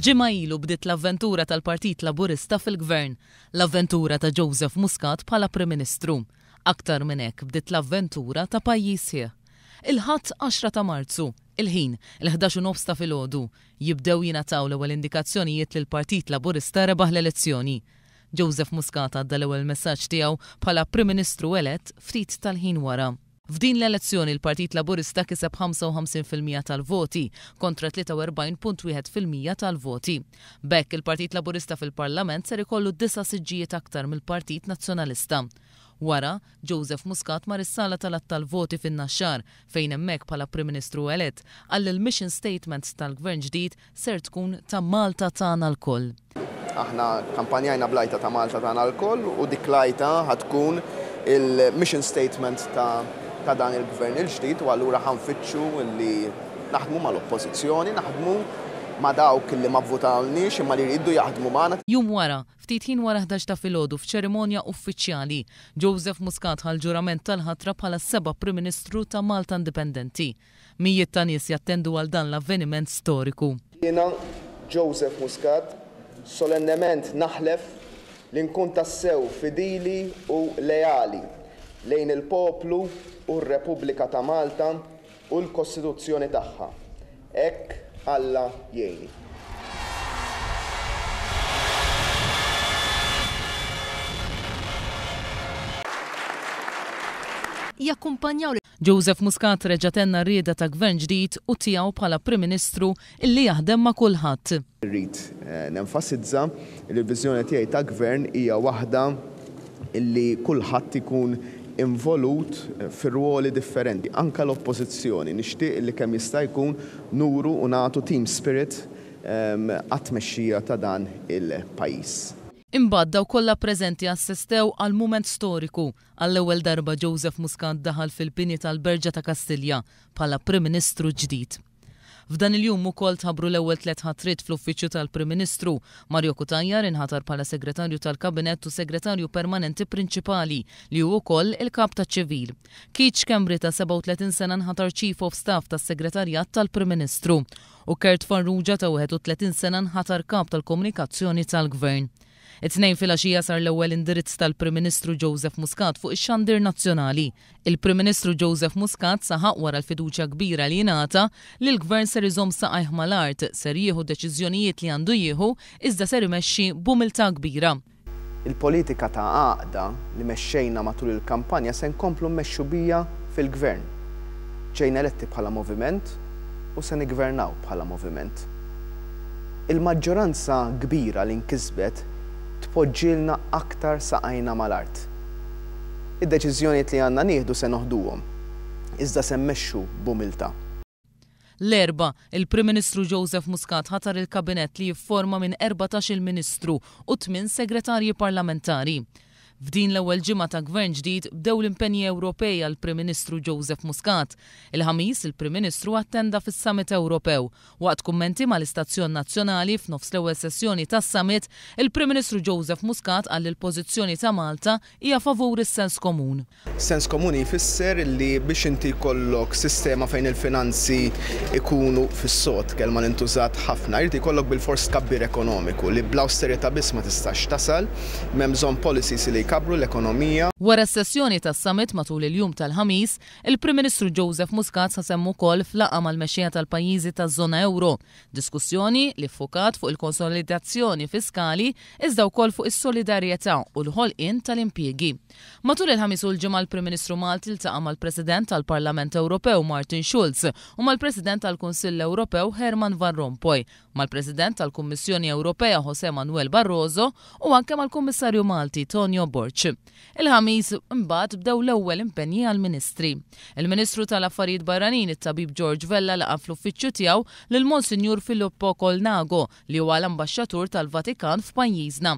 Ġimgħa ilu bdiet l-avventura tal-Partit Laburista fil-Gvern, l-avventura ta' Joseph Muscat bħala Prim Ministru. Aktar minn hekk bdiet l-avventura ta' pajjiż sħiħ. Il-Ħadd 10 ta' Marzu, il-ħin, il-ħdax u nofs ta' filgħodu, jibdew jingħataw l-ewwel indikazzjonijiet li l-Partit Laburista rebaħ l-elezzjoni. Joseph Muscat għadda l-ewwel messaġġ tiegħu bħala Prim Ministru elett ftit tal-ħin wara. F'din l-elezzjoni l-Partit Laburista kiseb 55 fil-mija tal-voti kontra 43.1 fil-mija tal-voti. B'hekk, il-Partit Laburista fil-Parlament ser ikollu disa' siġġijiet aktar mill-Partit Nazzjonalista. Wara, Joseph Muscat mar is-sala tal-għadd tal-voti fin-Naxxar fejn hemmhekk bħala Prim Ministru elett qal l-mission statement tal-Gvern ġdid ser tkun ta' Malta tagħna lkoll. Aħna kkampanjajna bl-għajta ta' Malta tagħna lkoll u dik l-għajta ħa tkun il-mission statement ta' ta' dan il-Gvern il-ġdid u allura ħa nfittxu li naħdmu mal-Oppożizzjoni, naħdmu ma' dawk li ma vvutawlniex imma li jridu jaħdmu magħna. Jum wara, ftit ħin wara ħdax ta' filgħodu f'ċerimonja uffiċjali, Joseph Muscat ħa l-ġurament tal-ħatra bħala s-seba' Prim Ministru ta' Malta Indipendenti. Mijiet ta' nies jattendu għal dan l-avveniment storiku. Jiena, Joseph Muscat, solennement naħlef li nkun tassew fidili u leali lejn il-poplu u r-Repubblika ta' Malta u l-Kostituzzjoni tagħha. Hekk Alla jgħinni. Jakkumpanjaw lil. Joseph Muscat reġa' tenna r-rieda ta' Gvern ġdid u tiegħu bħala Prim Ministru illi jaħdem ma' kulħadd. Irrid nenfasizza li l-viżjoni tiegħi ta' Gvern hija waħda illi kulħadd ikun involut fir-rwoli differenti, anke l-Oppożizzjoni. Nixtieq illi kemm jista' jkun nuru u nagħtu team spirit għat-tmexxija ta' dan il-pajjiż. Imbagħad dawk kollha preżenti assestew għal mument storiku Għall-ewwel darba Joseph Muscat daħal fil-bini tal-Berġa ta' Kastilja bħala Prim Ministru ġdid. F'dan il-jum ukoll tħabbru l-ewwel tliet ħatriet fl-Uffiċċju tal-Prim Ministru. Mario Cutajar inħatar bħala Segretarju tal-Kabinett u Segretarju Permanenti Prinċipali, li hu wkoll il-Kap taċ-Ċivil. Keith Schembri ta' 37 sena nħatar Chief of Staff tas-Segretarjat tal-Prim Ministru u Kurt Farrugia ta' 31 sena nħatar Kap tal-Komunikazzjoni tal-Gvern. It-Tnejn filgħaxija sar l-ewwel indirizz tal-Prim Ministru Joseph Muscat fuq ix-xandir nazzjonali. Il-Prim Ministru Joseph Muscat saħaq wara l-fiduċja kbira li ingħata li l-Gvern ser iżomm saqajh mal-art, ser jieħu deċiżjonijiet li għandu jieħu iżda ser imexxi b'umiltà kbira. Il-politika ta' għaqda li mexxejna matul il-kampanja se nkomplu mmexxu biha fil-Gvern. Ġejna eletti bħala moviment u se niggvernaw bħala moviment. Il-maġġoranza kbira li nkisbet tpoġġilna aktar saqajna mal-art. Id-deċiżjonijiet li għandna nieħdu se noħduhom, iżda se mmexxu b'umiltà. L-Erbgħa, il-Prim Ministru Joseph Muscat ħatar il-Kabinett li jifforma minn erbatax-il Ministru u tmien Segretarji Parlamentari. F'din l-ewwel ġimgħa ta' Gvern ġdid bdew l-impenji Ewropej għall-Prim Ministru Joseph Muscat. Il-Ħamis, il-Prim Ministru attenda fis-Summit Ewropew. Waqt kummenti mal-istazzjon nazzjonali f'nofs l-ewwel sessjoni tas-Summit, il-Prim Ministru Joseph Muscat qal li l-pożizzjoni ta' Malta hija favur is-sens komun. Sens komuni jfisser li biex inti jkollok sistema fejn il-finanzi jkunu fis-sod, kelma li ntużat ħafna, irid jkollok bilfors tkabbir ekonomiku, li bl-awsterità biss ma tistax tasal, m'hemm bżonn policies li jkabbru l-ekonomija. Wara s-sessjoni tas-summit matul il-jum tal-Ħamis, il-Prim Ministru Joseph Muscat ħasem ukoll f'laqgħa mal-mexxejja tal-pajjiżi taż-żona ewro, diskussjoni li ffukat fuq il-konsolidazzjoni fiskali iżda wkoll fuq is-solidarjetà u l-ħolqien tal-impjiegi. Matul il-Ħamis u l-Ġimgħa l-Prim Ministru Malti ltaqa' mal-President tal-Parlament Ewropew Martin Schulz u mal-President tal-Kunsill Ewropew Herman Van Rompuy, mal-President tal-Kummissjoni Ewropea José Manuel Barroso u anke mal-Kummissarju Malti Tonio Borg. Il-Ħamis imbagħad bdew l-ewwel impenji għall-Ministri. Il-Ministru tal-Affarijiet Barranin it-Tabib George Vella laqa' fl-uffiċċju tiegħu lil Monsinjur Filippo Colnago, li huwa l-Ambaxxatur tal-Vatikan f'pajjiżna.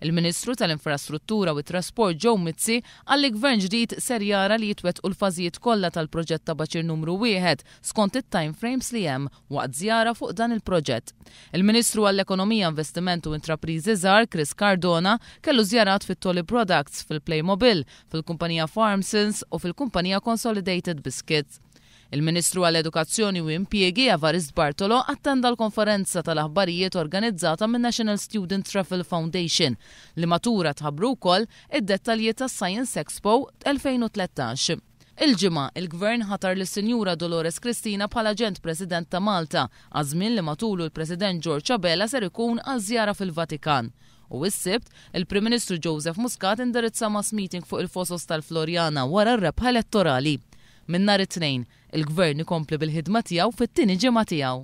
Il-Ministru tal-Infrastruttura u t-Trasport Joe Mizzi qal li Gvern ġdid ser jara li jitwettqu l-fażijiet kollha tal-proġett ta' Baċir Numru Wieħed skont it-time frames li hemm waqt żjara fuq dan il-proġett. Il-Ministru għall-Ekonomija, Investiment u Intrapriżi Żgħar Chris Cardona kellu żjarat fi Tolly Products, fil-Playmobil, fil-kumpanija Farmsons u fil-kumpanija Consolidated Biscuits. Il-Ministru għall-Edukazzjoni u Impjiegi, Evarist Bartolo, attenda l-konferenza tal-aħbarijiet organizzata min-National Student Raffle Foundation, li matura tħabbru wkoll id-dettalji tas-Science Expo 2013. Il-Ġimgħa, il-Gvern ħatar lis-Sinjura Dolores Cristina bħala Aġent President ta' Malta għaż-żmien li matulu l-President George Abela ser ikun għal żjara fil-Vatikan. U is-Sibt, il-Prim Ministru Joseph Muscat indirizza mass meeting fuq il-Fosos tal-Floriana wara r-rebħa elettorali. Minn nhar it-Tnejn, il-Gvern ikompli bil-ħidma tiegħu fit-tieni ġimgħa tiegħu.